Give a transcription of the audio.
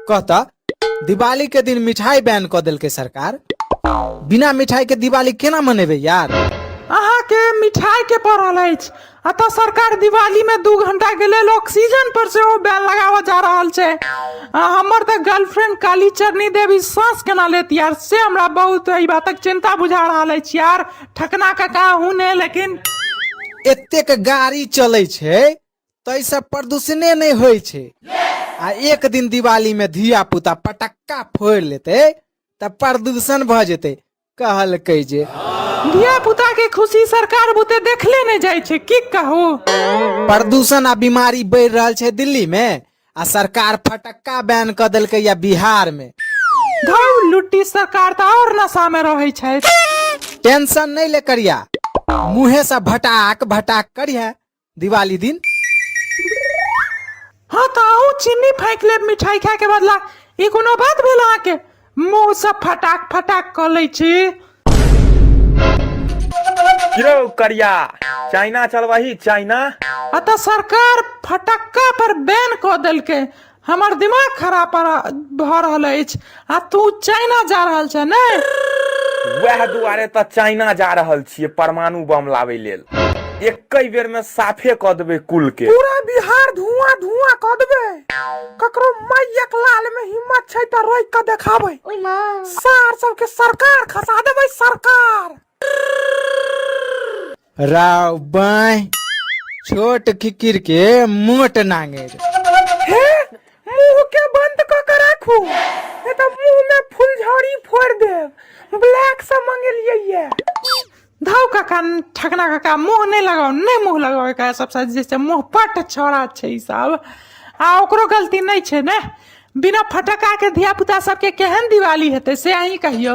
कहता दिवाली के दिन मिठाई बैन क देलकै सरकार बिना मिठाई के दिवाली केना मनेबे यार अहाँ के मिठाई के पड़ल अछि अतः सरकार दिवाली में दू घंटा के लेल ऑक्सीजन पर से ओ बैन लगावा जा रहल छै आ हमर तऽ गर्लफ्रेंड काली चरनी देवी सांस केना लेत यार से हमरा बहुत एहि बातक चिंता बुझा रहल अछि यार ठकना का का हूँ ने लेकिन एतेक गाड़ी चलै छै ताहिसँ प्रदूषणे नहि होइ छै आ एक दिन दिवालीमे धिया पुता पटक्का फोड़ि लेतै तऽ प्रदूषण भऽ जेतै कहलकै जे धिया पुता के खुशी सरकार बुते देखले नहि जाइ छै की कहू प्रदूषण आ बीमारी बढ़ि रहल छै दिल्ली मे आ सरकार फटक्का बैन कऽ देलकै या बिहार मे धौ लुट्टी सरकार तऽ और नशा में रहै छै टेंशन नहि ले करिया मुँहे से भटाक भटाक करिया दिवाली दिन हाँ तो आऊ चीनी फेंक लेब मिठाई खाए के बदला ई कोनो बात भेल अहाँके मुंह सब फटाक फटाक कऽ लै छी यौ करिया चाइना चलबही चाइना अतः सरकार फटक्का पर बैन कऽ देलकै हमर दिमाग खराब पर- भऽ रहल अछि आ तू चाइना जा रहल छै ने वएह दुआरे तऽ चाइना जा रहल छियै परमाणु बम लाबै लेल एकै बेर में साफे कऽ देबै कुल के पूरा बिहार धुआं धुआं कऽ देबै ककरो मैयक लाल में हिम्मत छै तऽ रोकि कऽ देखाबै सार सबके सरकार खसा देबै सरकार राव बाय छोट किकिर के मोट नांगेर हे मुंह के बंद क के राखू ए त मुंह में फुलझड़ी फोड़ देब ब्लैक से मंगेलिए ये धाव काका ठकना काका मुंह नहीं लगाओ नहीं मुंह लगाओ का सब साथ जैसे मुंह पट छोड़ा छै ई सब आ ओकरो गलती नहीं छै ने बिना फटका के धिया पुता सबके केहन दिवाली हेतै से अहीं कहियो